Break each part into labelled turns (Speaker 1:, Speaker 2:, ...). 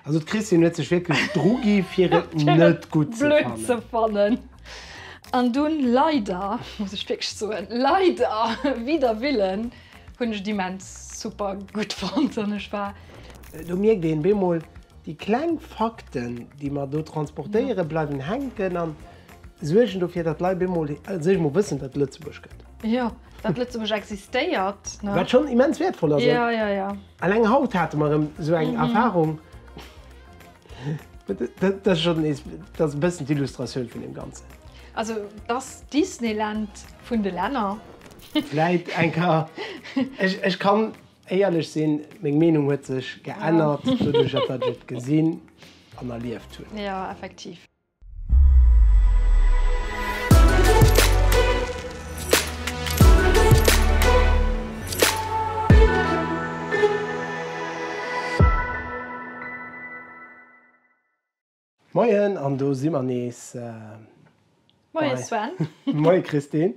Speaker 1: Also d'Christine huet sech wierklech drugi fir et net gutt ze fannen. Blöd ze fannen. An dunn leider, muss ech wierklech soen, leider, wider Willen, hunn ech et immens super gutt fonnt an ech war. Do mierkt een bemol, déi kleng Fakten, déi mer do transportéieren, bleiwen hänken an suergen dofir, datt d'Leit bemol also eemol wëssen, datt et Lëtzebuerg gëtt. Jo, datt Lëtzebuerg existéiert, ne? Wat schonn immens wäertvoll ass. Jo, jo, jo. Alleng haut hate mer erëm esou eng Erfahrung. Dat ass schonn nees, dat ass e bëssen d'Illustratioun vun deem Ganzen. Also et ass d'Disneyland vun de Länner. Vläit eng ka, ech kann éierlech sinn, meng Meenung huet sech geännert doduerch, datt ech et gesinn an erlieft hunn. Jo, effektiv. Moien an do si mer nees. Moie Sven. Moie Christine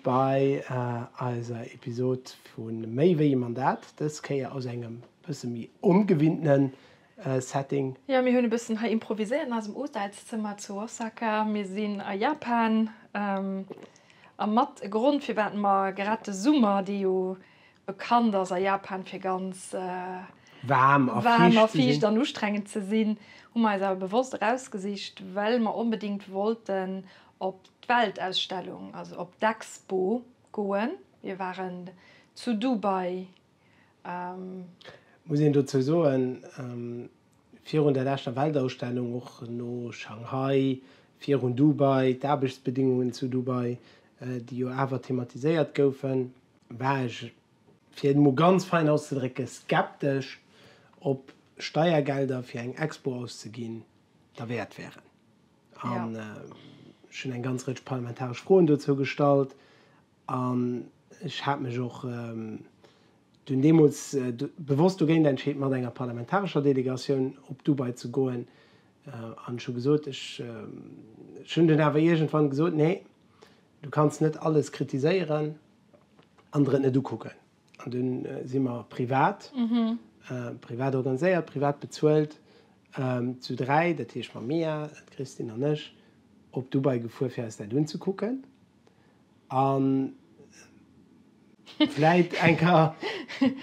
Speaker 1: bei eiser Episod vu Méi wéi e Mandat. Dës Kéier aus engem bësse méi ongewinnten Setting. Jo, mir hunn e bëssen hei improviséiert an eisem Hotelszëmmer zu Osaka. Mir sinn a Japan a mat e Grond firwat mer grad de Summer, dee jo bekannt ass a Japan fir ganz waarm a fiicht an ustrengend ze sinn, hu mer eis awer bewosst erausgesicht, well mer onbedéngt wollten op d'Weltausstellung, also op d'Expo goen. Mir waren zu Dubai Muss een dozou soen, virun der leschter Weltausstellung, och no Shanghai, virun Dubai, d'Aarbechtsbedingungen zu Dubai, déi jo awer thematiséiert goufen, war ech, fir et emol ganz fein auszedrécken, skeptesch, ob Steiergelder fir eng Expo auszeginn, derwäert wären. An ech hunn eng ganz Rëtsch parlamentaresch Froen dozou gestallt. An ech hat mech och dunn deemools bewosst dogéint entscheet, mat enger parlamentarescher Delegatioun op Dubai ze goen. An ech hu gesot, ech hunn dunn awer iergendwann gesot, Nee, du kanns net alles kritiséieren an der et net ukucken. An dunn si mer privat, privat organiséiert, privat bezuelt, zu dräi, dat heescht mam Mia, d'Christine an ech, op Dubai gefuer, fir eis dat unzekucken. An vläit eng Ka.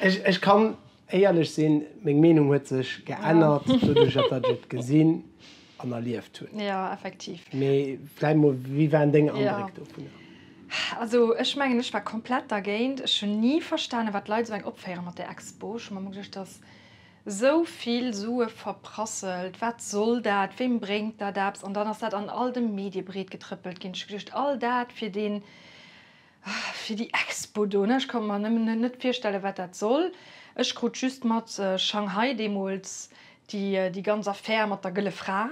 Speaker 1: Ech kann éierlech sinn, meng Meenung huet sech geännert doduerch, datt ech et gesinn an erlieft hunn. Jo, effektiv. Mee vläit mol, wéi waren deng Andréck dovunner? Also ech mengen, ech war komplett dergéint. Ech hunn ni verstanen, wat d'Leit esou eng opféieren mat där Expo. Ech hu mer ëmmer geduecht, datt. Esou vill Sue verprasselt, wat soll dat, weem bréngt dat eppes? An dann ass dat an all de Medie breetgetrëppelt ginn. Ech hu geduecht, all dat fir deen, fir déi Expo do, ne? Ech konnt mer nëmmen net virstellen, wat dat soll. Ech krut just mat, Shanghai deemools, déi ganz Affär mat der Gëlle Fra.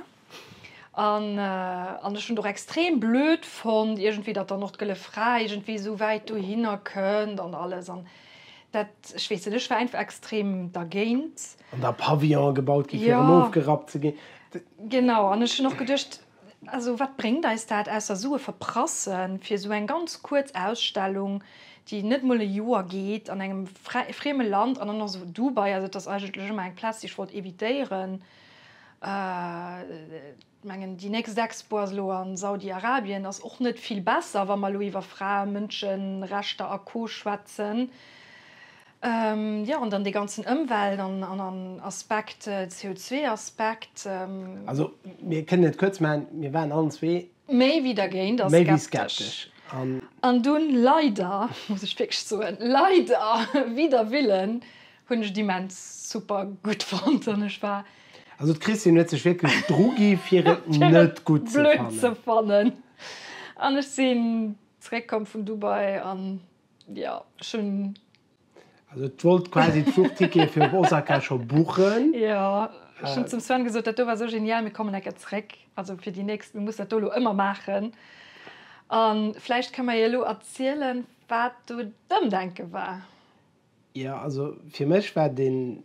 Speaker 1: An, an ech hunn et och extrem blöd fonnt iergendwéi, datt dann och d'Gëlle Fra iergendwéi esou wäit dohinner kënnt an alles. An dat, ech weess net, ech war einfach extrem dergéint. An da Pavillone gebaut gi fir erëm ofgerappt ze ginn. Genau. An ech hunn och geduecht, also wat bréngt eis dat, ausser Sue verprassen, fir esou eng ganz kuerz Ausstellung, déi net emol e Joer geet, an engem frieme Land, an dann och esou Dubai, also et ass eigentlech ëmmer eng Plaz, déi ech wollt evitéieren. Ech mengen, déi nächst Expo ass elo a Saudi-Arabien, ass och net vill besser, wa mer elo iwwer Frae-, Mënscherechter a Co schwätzen. Jo, an dann dee ganzen Ëmwelt an Aspekt, CO2-Aspekt. Also, mir kënnen et kuerz maachen, mir waren allen zwee. Méi wéi dergéint a skeptesch. An dunn leider, muss ech wierklech soen, leider, wider Willen, Hunn ech immens super gutt fonnt an ech war. Also d'Christine huet sech wierklech dru gi fir et net gutt ze fannen. Blöd ze fannen. An ech sinn zréck komm vun Dubai an jo ech hunn. Also et wollt quasi d'Fluchtickete fir op Osaka scho buchen. Jo ech hunn zum Sven gesot, dat do war esou genial, mir kommen eng Kéier zréck, also fir déi nächst, mir mussen dat do elo ëmmer maachen. A vläicht ka mer jo elo erzielen wat do d'Ëmdenke war. Jo, also fir mech war den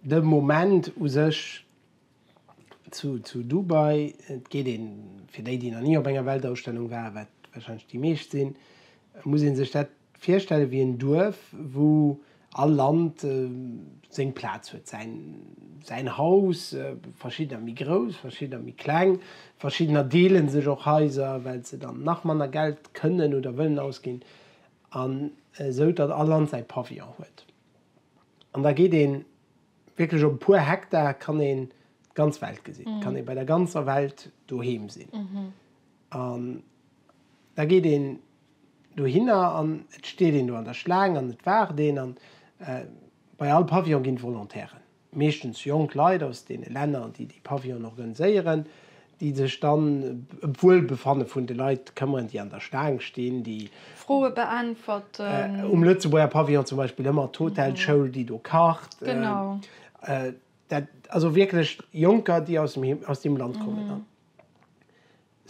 Speaker 1: de Moment u sech zu zu Dubai, et geet een, fir déi déi nach ni op enger Weltausstellung waren, wat wahrscheinlech déi meescht sinn, muss een sech dat virstellen wéi en Duerf wou all Land seng Plaz huet, säin säin Haus, verschiddener méi grouss, verschiddener méi kleng, verschiddener deele sech och Haiser well se dann nach manner Geld kënnen oder wëllen ausginn An esou datt all Land säi Pavillon huet. An da geet een wierklech op e puer Hektar kann een d'ganz Welt gesinn, kann ee bei der ganzer Welt doheem sinn. An da geet een dohinner an et steet een do an der Schlaang an et waart een. An bei all Pavillon ginn d'Volontairen. meeschtens jonk Leit aus deene Länner, déi déi Pavillone organiséieren, déi sech dann ëm d'Wuelbefanne vun de Leit këmmeren, déi an der Staang stinn, déi Froe beäntwerten. Um Lëtzebuerger Pavillon zum Beispill ëmmer d'Hotelschoul, déi do kacht. Genau. Dat, also wierklech Jonker, déi aus dem, aus deem Land kommen. An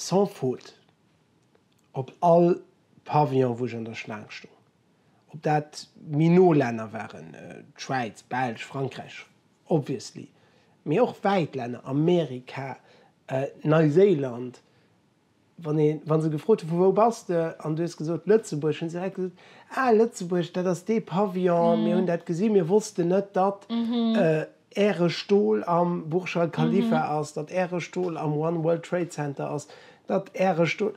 Speaker 1: sans faute, op all Pavillon, wou ech an der Schlaang stoung, Ob dat méi no Länner waren, d'Schwäiz, Belsch, Frankräich, obviously, mee och wäit Länner, Amerika, Neiséiland, wann ee, wa se gefrot hu vu wou bass de an du hues gesot Lëtzebuerg, hu se direkt gesot, ah Lëtzebuerg, dat ass dee Pavillon, mir hunn dat gesi, mir wossten net, datt äre Stol am Burj Al Khalifa ass, datt äre Stol am One World Trade Center ass, datt äre Stol.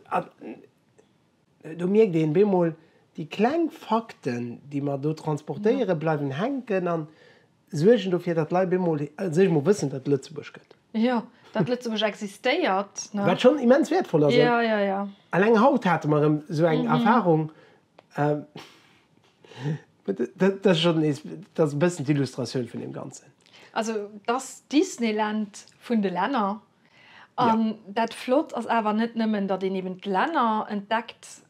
Speaker 1: Do mierkt een bemol, déi kleng Fakten, déi mer do transportéieren, bleiwen hänken an suergen dofir, datt d'Leit bemol als éischt mol wëssen, datt et Lëtzebuerg gëtt. Jo, datt Lëtzebuerg existéiert, ne? Wat schonn immens wäertvoll ass. Jo, jo, jo. Alleng haut hate mer erëm esou eng Erfahrung, dat ass schonn nees, dat ass e bëssen d'Illustratioun vun deem Ganzen. Also, datt d'Disneyland vun de Länner An dat Flott ass awer net nëmmen, datt een eben d'Länner entdeckt,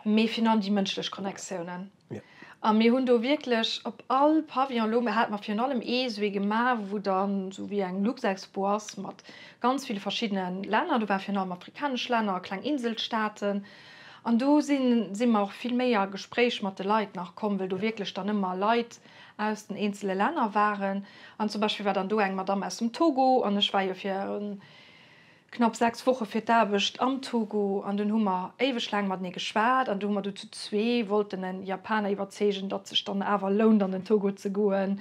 Speaker 1: mee virun allem déi mënschlech Connectiounen. A mir hunn do wierklech op all Pavillon elo, mir hate mer virun allem ee sou ee gemaach, wou dann esou wéi eng Luxexpo ass mat ganz ville verschiddene Länner. Do ware virun allem afrikanesch Länner a kleng Inselstaaten. An do si mer och vill méi a Gespréich mat de Leit nach komm, well do wierklech dann ëmmer Leit aus den eenzele Länner waren. An zum Beispill war dann do eng Madamm aus dem Togo an ech war jo fir knapp sechs Woche fir d'Aarbecht am Togo an dunn hu mer éiweg laang matenee geschwat an du hu mer du zu zwee wollten e Japaner iwwerzeegen, datt sech dann awer lount an den Togo ze goen.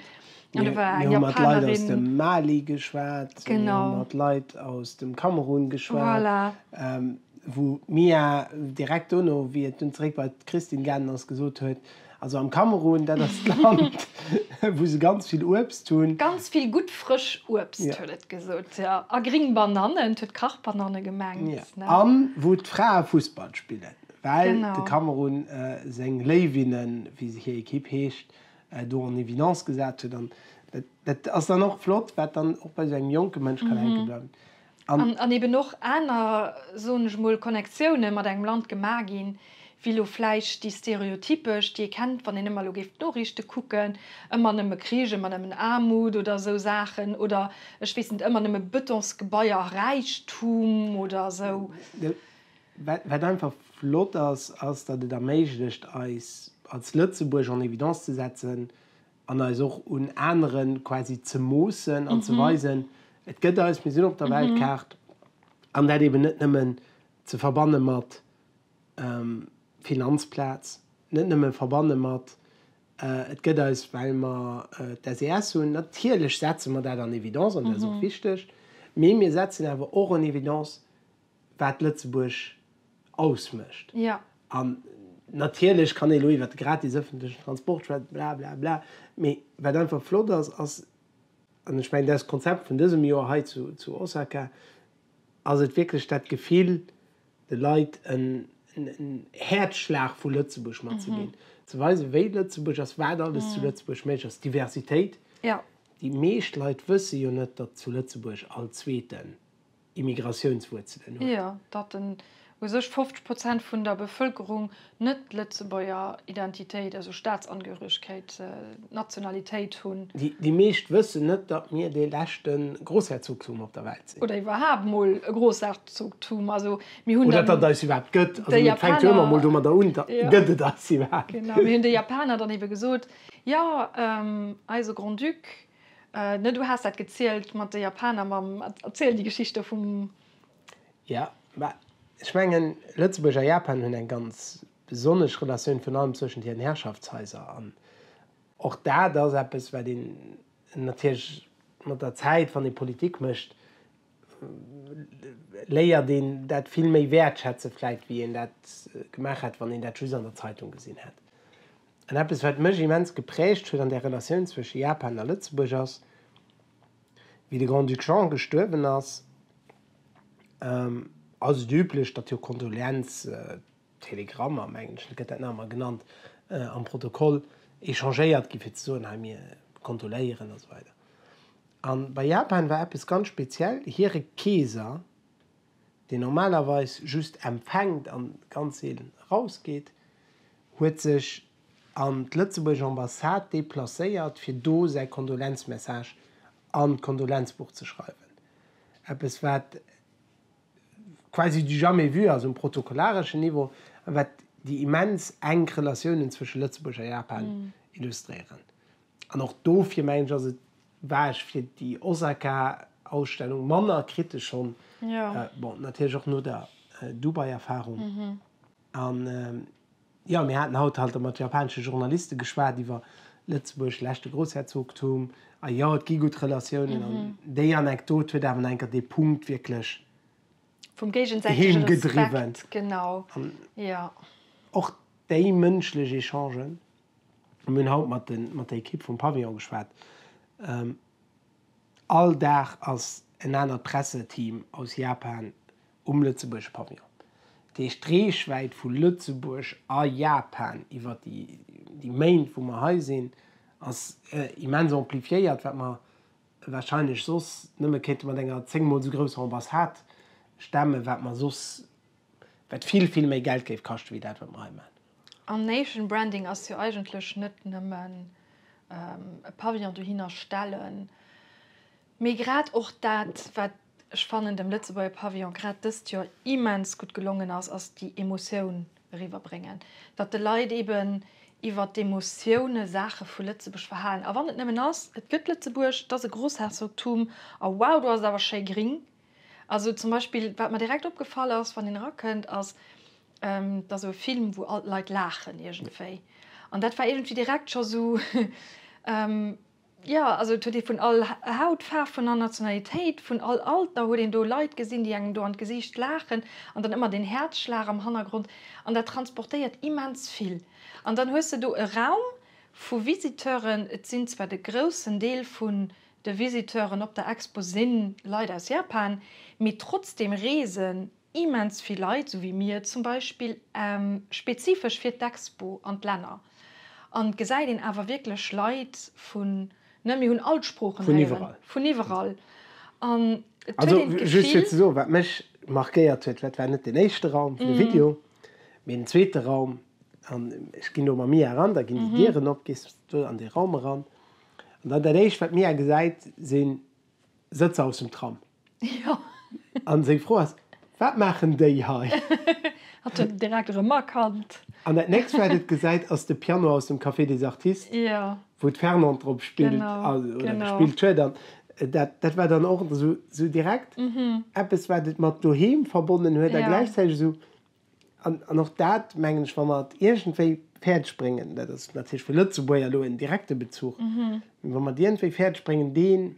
Speaker 1: An do war eng Japanerin. Mir hu mat Leit aus dem Mali geschwat, mir hu mat Leit aus dem Kamerun geschwat, wou d'Mia direkt dono, wéi et dunn zeréck bei d'Christine gaangen ass, gesot huet, Also am Kamerun, dat ass d'Land, wou se ganz vill Uebst hunn. Ganz vill gutt frësch Uebst, huet et gesot. Jo, a gring Banannen, huet Kachbananne gemengt. A wou d'Frae Fussball spillen, well de Kamerun seng Léiwinnen, wéi hir Ekipp heescht, do en évidence gesat huet. An dat ass dann och flott, wat dann och bei esou engem jonke Mënsch kann hänke bleiwen. An eben och aner, soen ech emol, Connectioune mat engem Land gemaach ginn, wéi elo vläicht déi stereotypesch, déi ee kennt, wann een ëmmer elo géif d'Noriichte kucken, ëmmer nëmme Krich, ëmmer nëmmen Aarmut oder esou Saachen, oder ech weess net, ëmmer nëmme Betonsgebaier a Räichtum oder esou. Wat einfach flott ass, ass, datt et erméiglecht, eis als Lëtzebuerg en évidence ze setzen, an eis och un aneren quasi ze moossen an ze weisen, et gëtt eis, mir sinn op der Weltkaart, an dat eben net nëmmen ze verbanne mat Finanzplaz, net nëmmen verbanne mat et gëtt eis well mer d'SES hunn, natierlech setze mer dat en évidence an dat ass och wichteg, mee mir setzen awer och en évidence wat Lëtzebuerg ausmécht. An natierlech kann ee lo iwwer de gratis ëffentlechen Transport schwätzen, bla bla bla. Mee wat einfach flott ass, ass, an ech mengen dat ass d'Konzept vun dësem Joer hei zu Osaka, ass et wierklech dat Gefill, de Leit en Häerzschlag vu Lëtzebuerg matzeginn. Ze weisen, wéi Lëtzebuerg ass, wat alles zu Lëtzebuerg méiglech ass, d'Diversitéit. Déi meescht Leit wësse jo net, datt zu Lëtzebuerg all Zweeten. Immigratiounswuerzelen huet. Jo, datt en u sech 50 Prozent vun der Bevëlkerung net d'Lëtzebuerger Identitéit, also Staatsangehöregkeet, Nationalitéit hunn. Déi meescht wëssen net, datt mir dee leschte Grossherzogtum op der Welt sinn. Oder iwwerhaapt mol e Grossherzogtum. Also mir hunn dann. Oder datt et eis iwwerhaapt gëtt. Also et fänkt jo ëmmer mol domadder un, datt gëtt et eis iwwerhaapt. Genau, mir hunn de Japaner dann ebe gesot, jo, eise Grand-Duc Ne, du has dat gezielt mat de Japaner mam Erzielen déi Geschichte vum. Jo, mä ech mengen, Lëtzebuerg a Japan hunn eng ganz besonnesch Relatioun, virun allem zwëschent hiren Herrschaftshaiser. An och dat ass eppes, wat een natierlech mat der Zäit, wann ee Politik mécht, léiert een dat vill méi wäertschätzen vläicht, wéi een dat gemaach hätt, wann een dat just an der Zeitung gesinn hätt. An eppes wat mech immens geprägt huet an der Relatioun zwësche Japan a Lëtzebuerg ass, wéi de Grand-Duc Jean gestuerwen ass, ass et üblech, datt jo Kondoleanztelegrammer, mengen ech, gëtt dat nach emmer genannt am Protokoll, échangéiert ginn, fir ze soen, hei mir kondoléieren a sou weider. An bei Japan war eppes ganz speziell, hire Keeser, deen normalerweis just empfänkt an ganz seelen erausgeet, huet sech an d'Lëtzebuerg Ambassade deplacéiert fir do säi Kondolenzmessage an d'Kondolenzbuch ze schreiwen. Eppes wat quasi du jamais vu ass um protokollareschen Niveau a wat déi immens enk Relatiounen zwësche Lëtzebuerg a Japan illustréieren. An och dofir mengen ech ass et War ech fir déi Osaka Ausstellung manner kritesch schonn, bon natierlech och no der Dubai Erfahrung, an jo mir haten haut halt mat japanesche Journalisten geschwat iwwer Lëtzebuerg, leschte Groussherzogtum, a jo et gi gutt Relatiounen, an déi Anekdot huet awer no enker dee Punkt wierklech heemgedriwwen, an och déi mënschlech Echangen, Mir hunn haut mat der Ekipp vum Pavillon geschwat. All Dag ass en anert Presseteam aus Japan um Lëtzebuerger Pavillon. Dat heescht, d'Reechwäit vu Lëtzebuerg a Japan iwwer déi Méint, wou mer hei sinn, ass immens amplifiéiert, wat mer warscheinlech soss nëmme kéinte mat enger zéngmol esou grousser Ambassade stemmen, wat mer soss, wat vill, vill méi Geld géif kaschten, wéi dat, wat mer hei maachen. An Nation Branding ass jo eigentlech net nëmmen e Pavillon dohinner stellen, mee grad och dat, wat ech fannen dem Lëtzebuerger Pavillon grad dëst Joer immens gutt gelongen ass, ass déi Emotioun eriwwer bréngen. Datt de Leit eben iwwer d'Emotioune Saache vu Lëtzebuerg verhalen. A wann et nëmmen ass, et gëtt Lëtzebuerg, et ass e Grossherzogtum a wow, do ass et awer schéi gring. Also zum Beispill, wat mer direkt opgefall ass, wann een erakënnt, ass Et ass sou e Film, wou all d'Leit laachen iergendwéi. An dat war iergendwéi direkt scho sou, jo, also et huet ee vun all Hautfaarf, vun all Nationalitéit, vun all Alter huet een do Leit gesinn, déi engem do an d'Gesiicht laachen. An dann ëmmer deen Häerzschlag am Hannergrond. An dat transportéiert immens vill. An dann hues de do e Raum vu Visiteuren, et sinn zwar de groussen Deel vun de Visiteuren op der Expo si Leit aus Japan, mee trotzdeem reesen Immens vill Leit, sou wéi mir zum Beispill, spezifesch fir d'Expo an d'Länner. An et gesäit een awer wierklech Leit vun, ne mir hunn all d'Sproochen héieren, vun iwwerall. An et huet een d'Gefill. Just fir ze soen, wat mech markéiert huet, wat war net den éischte Raum vun de Video, mee den zweete Raum. An ech ginn do mam Mia eran, da ginn déi Dieren op, gees du an dee Raum eran. An dann dat éischt, wat d'Mia gesäit, sinn. Sëtzer aus dem Tram. Jo. An seng Fro ass, Wat maachen déi hei? Hat en direkt erëm erkannt. An dat nächst, wat et gesäit, ass de Piano aus dem Café des Artistes. Jo. Wou d'Fernande drop spillt. Genau. Oder gespillt huet. An dat, dat war dann och esou, esou direkt eppes, wat et mat doheem verbonnen huet. Jo. A gläichzäiteg esou. An och dat, mengen ech, wa mer et iergendwéi fäerdeg bréngen, dat ass natierlech fir Lëtzebuerger elo en direkte Bezuch, mee wa mer et iergendwéi fäerdeg bréngen, dee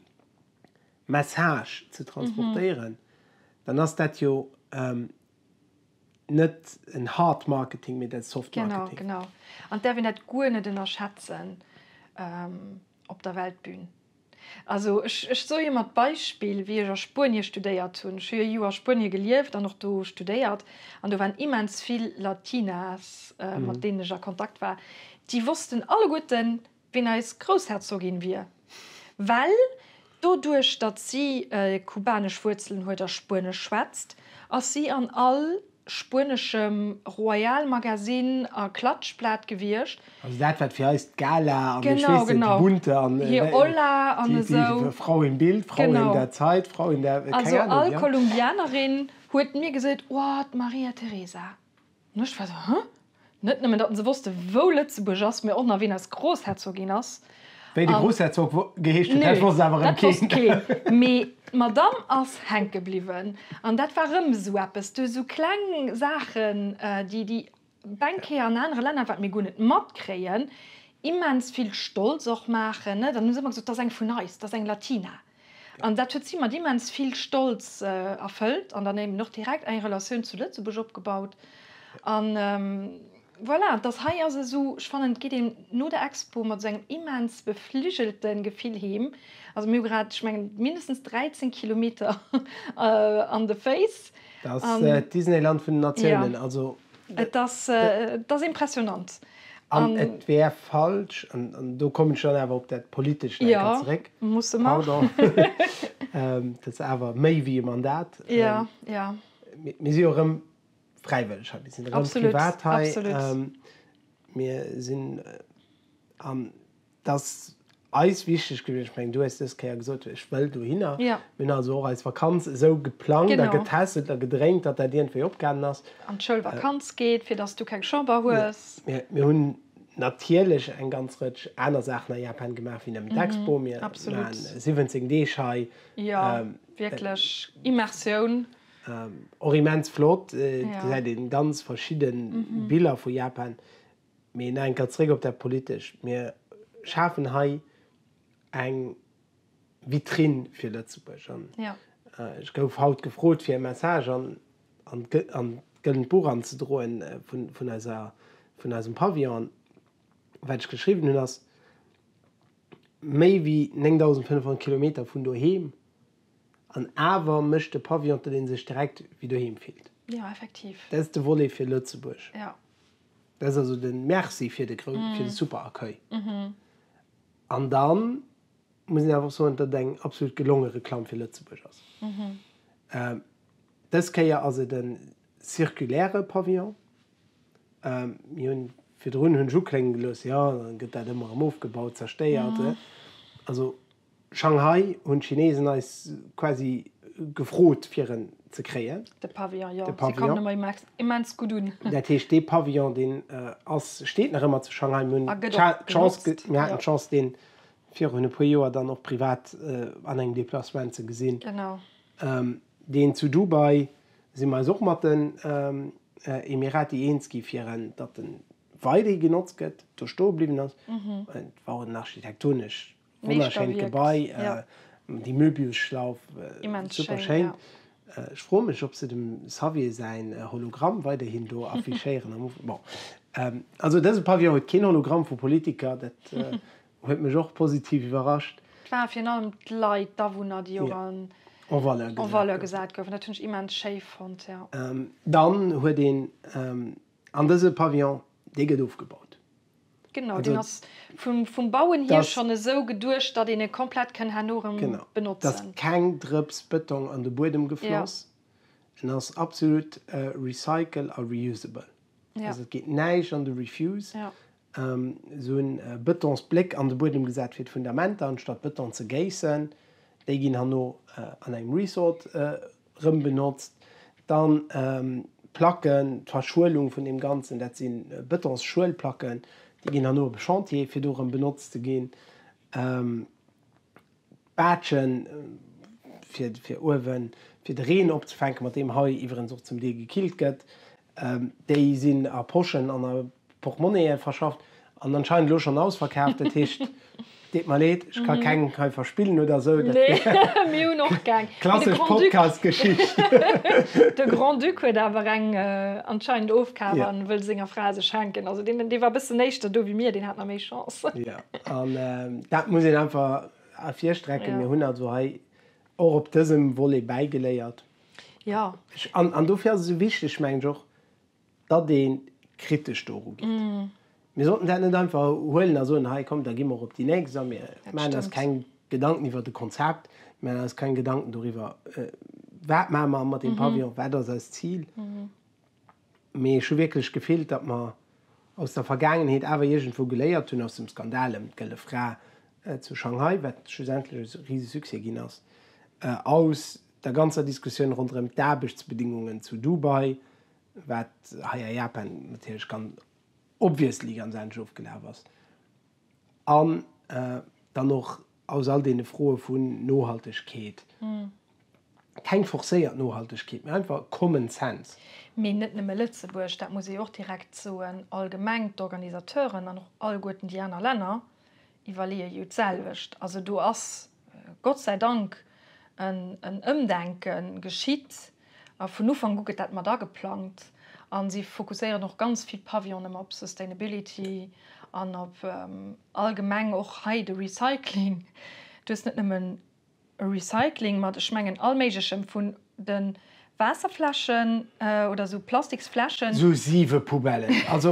Speaker 1: Message ze transportéieren, dann ass dat jo net en hard marketing, mee dat ass soft marketing. Genau, genau. An et däerf een dat guer net ënnerschätzen. op der Weltbühn. Also ech ech soe mat Beispill, wéi ech a Spuenie studéiert hunn, ech hu jo e Joer a Spuenie gelieft an och do studéiert, an do waren immens vill Latinas, mat deenen ech a Kontakt war, déi wossten alleguerten, wien eis Groussherzogin wier, well Doduerch, datt si kubanesch Wuerzelen huet a Spuenesch schwätzt, ass si an all spueneschem Royal-Magasinn a Klatschblat gewiescht. Also dat, wat fir eis d'Gala an, ech weess net, déi Bunte an déi Frau im Bild, Frau in der Zeit, Frau in der, keng Ahnung. Also all Kolumbianerin huet mir gesot, Oh, d'Maria Teresa. An ech war esou, Hä? Net nëmmen, datt en se wosste, wou Lëtzebuerg ass, mee och nach, wien eis Grossherzogin ass. Wéi de Grossherzog geheescht huet, dat wosst awer erëm keen. Nö, dat wosst keen. Mee d'Madamm ass hänke bliwwen. An dat war erëm esou eppes, du, esou kleng Saachen, déi déi Banquiere an anere Länner, wat mir guer net matkréien, immens vill stolz och maachen. Dann hu se ëmmer gesot, dat ass eng vun eis, dat ass eng Latina. An dat huet si mat immens vill Stolz erfëllt an dann eben och direkt eng Relatioun zu Lëtzebuerg opgebaut. An voilà, dass hei ass esou, ech fannen, et geet een no der Expo mat esou engem immens befligelte Gefill heem. Also mir hu grad, ech mengen, mindestens 13 Kilometer an de Féiss. Dat ass d'Disneyland vun den Natiounen. Also Et ass impressionant. An et wär falsch, an do kommen ech dann awer op dat Politescht eng Kéier zeréck, pardon, dat ass awer méi wéi e Mandat, mir si jo erëm fräiwëlleg hei, mir sinn erëm privat hei, mir sinn an Et ass eis wichteg gewiescht, ech mengen, du hues dës Kéier gesot, ech wëll dohinner. Mir hunn also och eis Vakanz esou geplangt a getesselt a gedréint, datt dat iergendwéi opgaangen ass. An d'Schoulvakanz geet, fir datt s du keng Chamber hues. Mir hunn natierlech eng ganz Rëtsch aner Saachen a Japan gemaach wéi nëmmen d'Expo. Mir maachen 17 Deeg hei. Jo, wierklech Immersioun. Och immens flott, do gesäit ee ganz verschidde Biller vu Japan. Mee nach eng Kéier zréck op dat Politescht. Mir schafen hei eng Vitrinn fir Lëtzebuerg. An ech gouf haut gefrot, fir e Message an d'Gëllent Buch anzedroen vun eiser, vun eisem Pavillon. An wat ech geschriwwen hunn, ass, Méi wéi 9.500 Kilometer vun doheem, an awer mécht de Pavillon, datt ee sech direkt wéi doheem fillt. Dat ass de Volet fir Lëtzebuerg. Dat ass also den Merci fir de groussen, fir de super Accueil. An dann muss een awer och soen, datt et eng absolut gelonge Reklamm fir Lëtzebuerg ass. Dës Kéier ass et en circulaire Pavillon. Mir hunn, virdrun hunn ech uklénge gelooss, jo, dann gëtt dat ëmmer erëm ofgebaut, zerstéiert. Also Shanghai hunn d'Chinesen eis quasi gefrot fir en ze kréien. De Pavillon, jo, se kommen ëmmer immens gutt un. Dat heescht dee Pavillon, deen ass, steet nach ëmmer zu Shanghai. Mir hunn d'Chance, mir haten d'Chance deen virun e puer Joer dann och privat an engem Déplacement ze gesinn. Deen zu Dubai si mer eis och mat den Emirati eens gi fir en, datt en weiderhi genotzt gëtt, do stoe bliwwen ass. Et war och en architektonesch Wonnerschéint Gebai, déi Möbiusschlauf, super schéin. Ech froe mech ob se dem Xavier säin Hologramm weiderhin do affichéieren am Ufank. Bon, also dëse Pavillon huet keen Hologramm vu Politiker, dat huet mech och positiv iwwerrascht. Et ware virun allem d'Leit, d'Awunner, déi och en valeur gesat goufen, dat hunn ech immens schéi fonnt. Dann huet een an dëse Pavillon, dee gëtt ofgebaut. Genau, deen ass vum Bauen hier schonn esou geduecht, datt een e komplett kann herno erëm benotzen. Genau, et ass keng Drëps Bëtong an de Buedem gefloss, en ass absolut recycle a reusable. Also et geet näischt an de Refuse, esou e Bëtonsbléck an de Buedem gesat fir d'Fundamenter, anstatt Bëton ze géissen. Déi ginn herno an engem Resort. Rëm benotzt. Dann d'Placken, d'Verschuelung vun deem Ganzen, dat si Bëtonsschuelplacken, déi ginn herno op e Chantier, fir do erëm benotzt ze ginn. Baatschen, fir uewen, fir de Reen opzefänken, mat deem hei iwwerens och zum Deel gekillt gëtt. Déi sinn a Poschen an a Portmonnaie verschafft an anscheinend elo schonn ausverkaaft. Dat heescht, deet mer leed, ech ka keng hei verspillen oder esou. Nee, mir hunn och keng. Klassesch Podcast-Geschicht. De Grand-Duc huet awer eng anscheinend ofkaaft a wëll senger Fra se schenken. Also deen war e bëssen éischter do wéi mir, deen hat nach méi Chance. Jo, an dat muss een einfach ervirstrecken. Mir hunn also hei och op dësem Volet bäigeléiert. Jo. An dofir ass et esou wichteg, meng ech och, datt ee kritesch doru geet. Mir sollten dat net einfach huelen a soen, hei komm, da gi mer och op déi nächst a mir maachen eis keng Gedanken iwwer de Konzept, mir maachen eis keng Gedanken doriwwer, wat maache mer mat deem Pavillon, wat ass eist Zil. Mee ech hu wierklech d'Gefill, datt mer aus der Vergaangenheet awer iergendwou geléiert hunn, aus dem Skandal ëm d'Gëlle Fra zu Shanghai, wat schlussendlech e Risesuccès ginn ass, aus der ganzer Diskussioun ronderëm d'Aarbechtsbedingungen zu Dubai, wat hei a Japan natierlech ganz obviously ganz anescht ofgelaf ass, an dann och aus all deene Froe vun Nohaltegkeet, keng forcéiert Nohaltegkeet, mä einfach Common Sense. Mee net nëmme Lëtzebuerg, dat muss ee jo och direkt soen, allgemeng d'Organisateuren an och allguerten déi aner Länner, Iwwerleeë jo d'selwecht. Also do ass Gott säi Dank en Ëmdenke geschitt. A vun Ufank u gëtt dat mat ageplangt. A si fokusséieren och ganz vill Pavillon ëmmer op Sustainability an op allgemeng och hei de Recycling. Du hues net nëmmen e Recycling mat, ech mengen, allméiglechem, vun de Waasserfläschen oder esou Plastiksfläschen. Esou siwe Poubellen. Also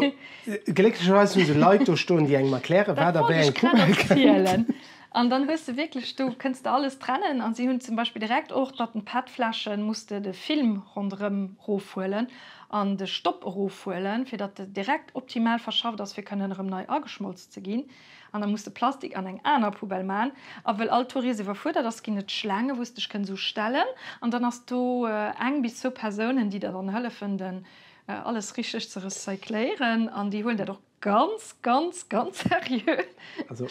Speaker 1: glécklecherweis hu se Leit do stoen, déi engem erklären, wat a wéi eng Poubelle kënnt. Dat wollt ech grad erzielen. An dann hues de wierklech, do kënns de alles trennen. A si hunn zum Beispill direkt och, datt den PET-Fläschen, muss de de Film ronderëm rofhuelen an de Stopp erofhuelen, fir datt e direkt optimal verschafft ass, fir kënnen erëm nei ageschmolz ze ginn. An da muss de Plastik an eng aner Poubelle man. A wëll all Tourist iwwerfuerdert ass, ginn et Schlaange wou s dech kënns u stellen. An dann ass do eng bis zwou Persounen déi der dann hëllefen den alles richteg ze recycléieren. An déi huelen dat och ganz ganz ganz seriö. Also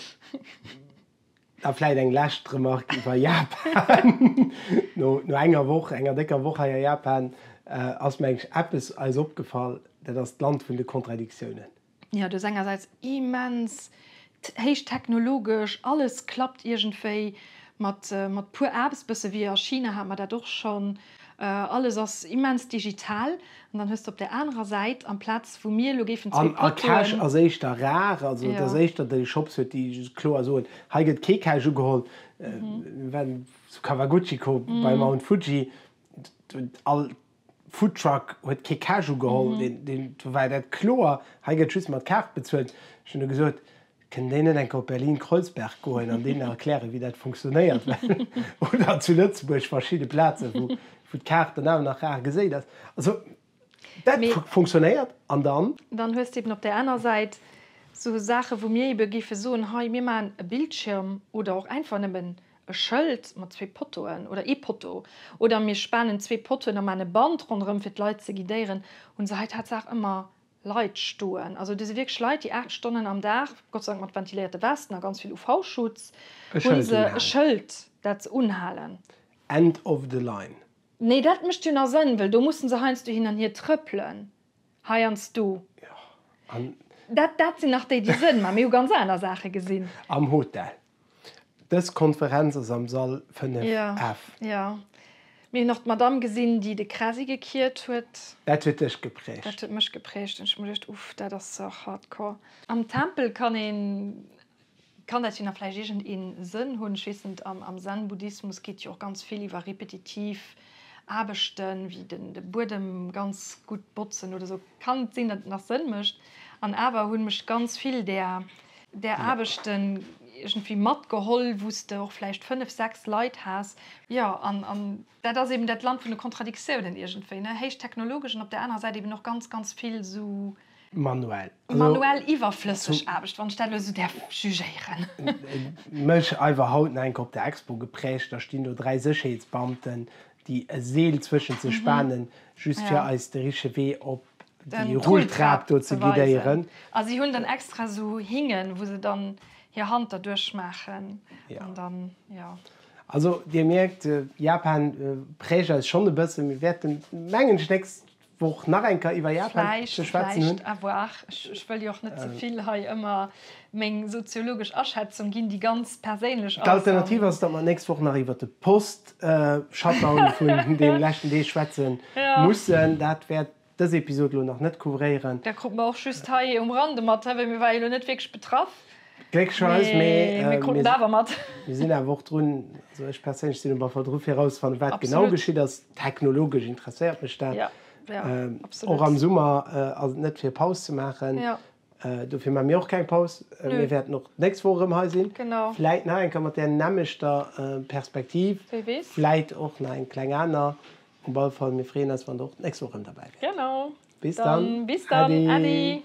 Speaker 1: da vläit eng lescht Remarque iwwer Japan. No enger Woch, enger décker Woch hei a Japan ass mengs eppes eis opgefall, dat ass d'Land vun de Contradictiounen. Jo, do ass engersäits immens héich technologesch, alles klappt iergendwéi mat mat puer Apps, bësse wéi a China hat mer dat och schonn, alles ass immens digital. An dann hues de op där anerer Säit, amplaz wou mir elo géifen zwee Poteauen. An Cash ass éischter rar, also et ass éischter déi Shops huet, déi kloer soen, hei gëtt kee Cash ugeholl. Mir waren zu Kawaguchiko bei Mount Fuji, do hunn all. Foodtruck huet kee Cash ugeholl, do war dat kloer, hei gëtt just mat Kaart bezuelt. Ech hunn du gesot, kënnt déi net eng Kéier op Berlin-Kreuzberg goen an deenen erklären, wéi dat funktionéiert? Oder zu Lëtzebuerg verschidde Plazen, wou d'Kaart dann awer nach rar geséit ass. Also dat funktionéiert, an dann? Dann hues de eben op där aner Säit esou Saachen, wou mir ebe géife soen, hei mir maachen e Bildschirm oder och einfach nëmmen e Schëld mat zwee Pottoen oder ee Potto oder mir spanen zwee Pottoen a maan e Band ronderëm fir d'Leit ze guidéieren, hunn se hei tatsaach ëmmer Leit stoen. Also do si wierklech Leit déi 8 Stonnen am Dag, Gott sei Dank mat ventiléierte Westen a ganz vill UV-Schutz, hunn se e Schëld dat se unhalen. End of the line. Nee dat mécht jo nach Sënn, wëll do mussen se heiansdo hin an hier trëppelen, heiansdo. Jo an. Dat dat sinn nach déi déi Sënn maan. Mir hu ganz aner Saache gesinn. Am Hotel. Dës Konferenz ass am Sall 5F. Jo, mir hunn och d'Madame gesinn, déi de Krasi gekiert huet. Dat huet dech geprägt? Dat huet mech geprägt an ech hu mer geduecht, Uff, dat ass och hardcore. Am Tempel kann een, kann dat jo nach vläicht iergend ee Sënn hunn, ech weess net, am Zen-Buddhismus geet jo och ganz vill iwwer repetitiv. Aarbechten, wéi den de Buedem ganz gutt botzen oder esou, kann et sinn, datt et nach Sënn mécht. An awer hunn mech ganz vill där där Aarbechten iergendwéi matgeholl, wou s de och vläicht fënnef, sechs Leit has. Jo, an an dat ass eeben dat Land vun de Kontradiktiounen iergendwéi, ne, héichtechnologesch an op där anerer Säit eeben och ganz, ganz vill esou. Manuell. Manuell iwwerflësseg Aarbecht, wann ech dat elo esou däerf jugéieren. Mëllech Eiwer haut enk op der Expo geprägt. Da stinn do dräi Sécherheetsbeamten, déi e Seel zwëschent sech spanen, just fir eis de richtege Wee op déi Rulltrap do ze guidéieren. A si hunn dann extra esou Hingen, wou se dann hir Hand derduerch maachen an dann, jo. Also, Dir mierkt, Japan prägt eis schonn e bëssen. Mir wäerten, mengen ech, d'nächst Wou och nach eng Kéier iwwer Japan ze Vläicht, schwätzen hunn. vläicht, à voir. Ech, ech wëll jo och net ze vill hei ëmmer meng soziologesch Aschätzung ginn, déi ganz perséinlech ass an. D'Alternativ ass, datt mer nächst Woch nach iwwer de Post-Shutdown vun deene leschten Deeg schwätze mussen. Dat wäert dës Episod elo nach net couvréieren. Dat krut mer och just hei um Rande mat, wéi mir ware jo elo net wierklech betraff. Gléckcherweis, mee mir konnten awer mat. Mir sinn awer och drun, also ech perséinlech sinn um Affer dru fir erauszefannen, wat genau geschitt ass. Technologesch interesséiert mech dat och am Summer. Ass et net fir Paus ze maachen? Dofir maache mir och keng Paus. Mir wäerten och d'nächst Woch erëm hei sinn, vläit nach eng Kéier mat där nämmlechter Perspektiv, vläit och nach eng kleng aner. Op alle Fall, mir freeën eis, wann der och d'nächst Woch erëm derbäi wäert. Bis dann, äddi.